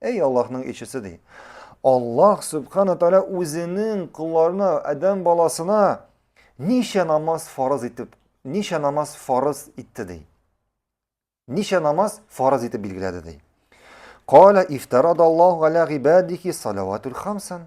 Әй Аллаһның илчесе ди. Аллаһ Субхана Тәгалә үзенең кулларына, адәм баласына ничә намаз фарыз итеп, ничә намаз фарыз итте ди. Ничә намаз фарыз итеп билгеләде ди. Кала ифтарада Аллаһу галә гибадихи салаватул хамсан.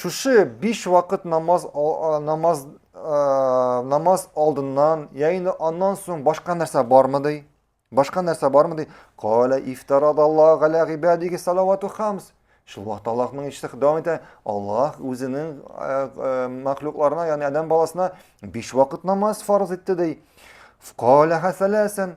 Шушы биш вакыт намаз, намаз, намаз алдыннан, я инде аннан соң башка нәрсә бармы ди? Башка нәрсә бармы ди? Кала ифтарадаллаһу галя гибадиги салавату хамс. Шул вакыт Аллаһның иште дәвам итә. Аллаһ үзенең мәхлукларына, ягъни адәм баласына биш вакыт намаз фарыз итте ди. Кала хасаласан.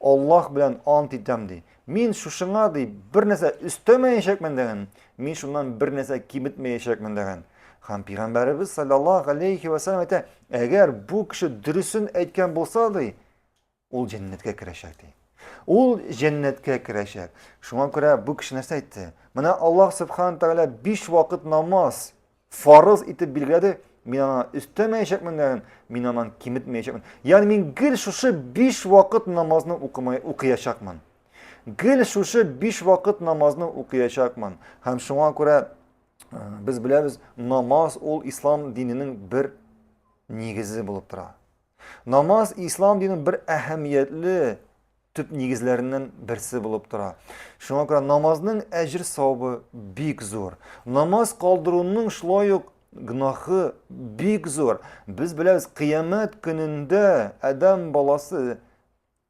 Аллаһ белән ант итәм, ди, мин шушыңа, ди, бернәрсә өстәмәячәкмен дигән, мин шуннан бернәрсә киметмәячәкмен дигән. Һәм Пәйгамбәребез саллаллаһу алейхи ва сәлләм әйтә, әгәр бу кеше дөресен әйткән булса, ди, ул җәннәткә керәчәк, ди. Ул җәннәткә керәчәк. Шуңа күрә бу кеше нәрсә әйтте? Менә Аллаһ субхана тәгалә биш вакыт намаз фарыз итеп билгеләде, мин аны өстәмәячәкмен дә, мин аны киметмәячәкмен. Ягъни мин гел шушы 5 вакыт намазны укымай укыячакмын. Гел шушы 5 вакыт намазны укыячакмын. Һәм шуңа күрә э, без беләбез, намаз ул ислам диненең бер нигезе булып тора. Намаз ислам динен бер әһәмиятле төп нигезләреннән берсе булып тора. Шуңа күрә намазның әҗер савабы бик зур. Намаз калдыруның шулай ук гнахы бик зур. Без беләбез, кыямәт көнендә адам баласы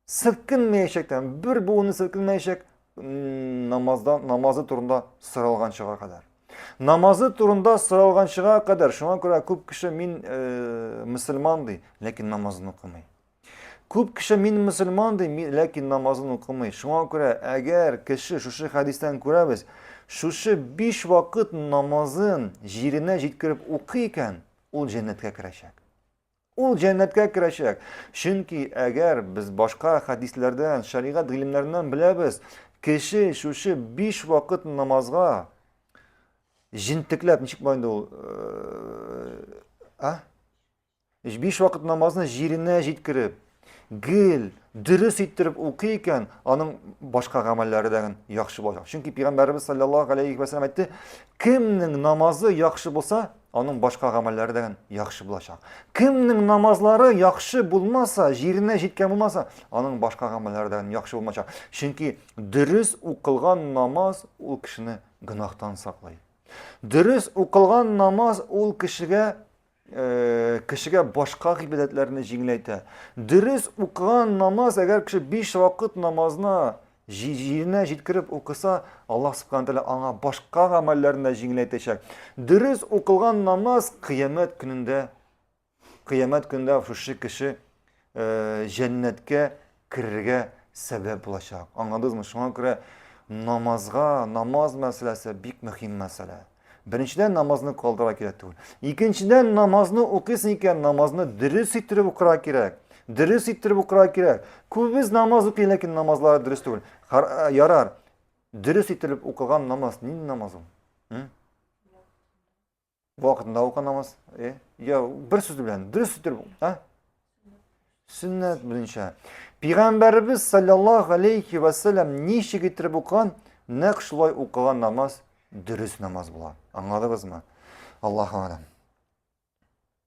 селкенмәячәк тә бер буыны селкенмәячәк намазда намазы турында соралганчыга кадәр намазы турында соралганчыга кадәр шуңа күрә күп кеше мин э, мөселман ди ләкин намазын укымый күп кеше мин мөселман ди ләкин намазын укымый шуңа күрә әгәр кеше шушы хәдистән күрәбез шушы биш вакыт намазын җиренә җиткереп укый икән ул җәннәткә керәчәк Ул җәннәткә керәчәк. Чөнки әгәр без башка хәдисләрдән, шәригать гыйлемнәреннән беләбез, кеше шушы биш вакыт намазга җентекләп, ничек була инде ул? Э, а? Биш вакыт намазны җиренә җиткереп, Гел дөрес иттереп укый икән, аның башка гамәлләре дә яхшы булачак. Чөнки Пәйгамбәрбез саллаллаһу алейхи ва саллям әйтте, кемнең намазы яхшы булса, аның башка гамәлләре дә яхшы булачак. Кемнең намазлары яхшы булмаса, җиренә җиткән булмаса, аның башка гамәлләре дә яхшы булмачак. Чөнки дөрес укылган намаз ул кешене гынахтан саклый. Дөрес укылган намаз ул кешегә кешегә башка гыйбадәтләрне җиңеләйтә. Дөрес укыган намаз, әгәр кеше биш вакыт намазны җиренә җиткереп укыса, Аллаһ субхана тәгалә аңа башка гамәлләрне дә җиңеләйтәчәк. Дөрес укылган намаз кыямәт көнендә кыямәт көнендә шушы кеше җәннәткә керергә сәбәп булачак. Аңладызмы? Шуңа күрә намазга, намаз мәсьәләсе бик мөһим мәсьәлә. Беренчедән намазны калдыра кирәк түгел. Икенчедән намазны укыйсың икән, намазны дөрес иттереп укырга кирәк. Дөрес иттереп укырга кирәк. Күбез намаз укый, ләкин намазлары дөрес түгел. Э, ярар. Дөрес иттереп укыган намаз нинди намаз ул? вакытында укы намаз э? я бер сүз белән дөрес итеп а сөннәт буенча пәйгамбәребез саллаллаху алейхи вассалам ничек итеп укыган нәкъ шулай укыган намаз дөрес намаз була аңладыгызмы аллаһу алам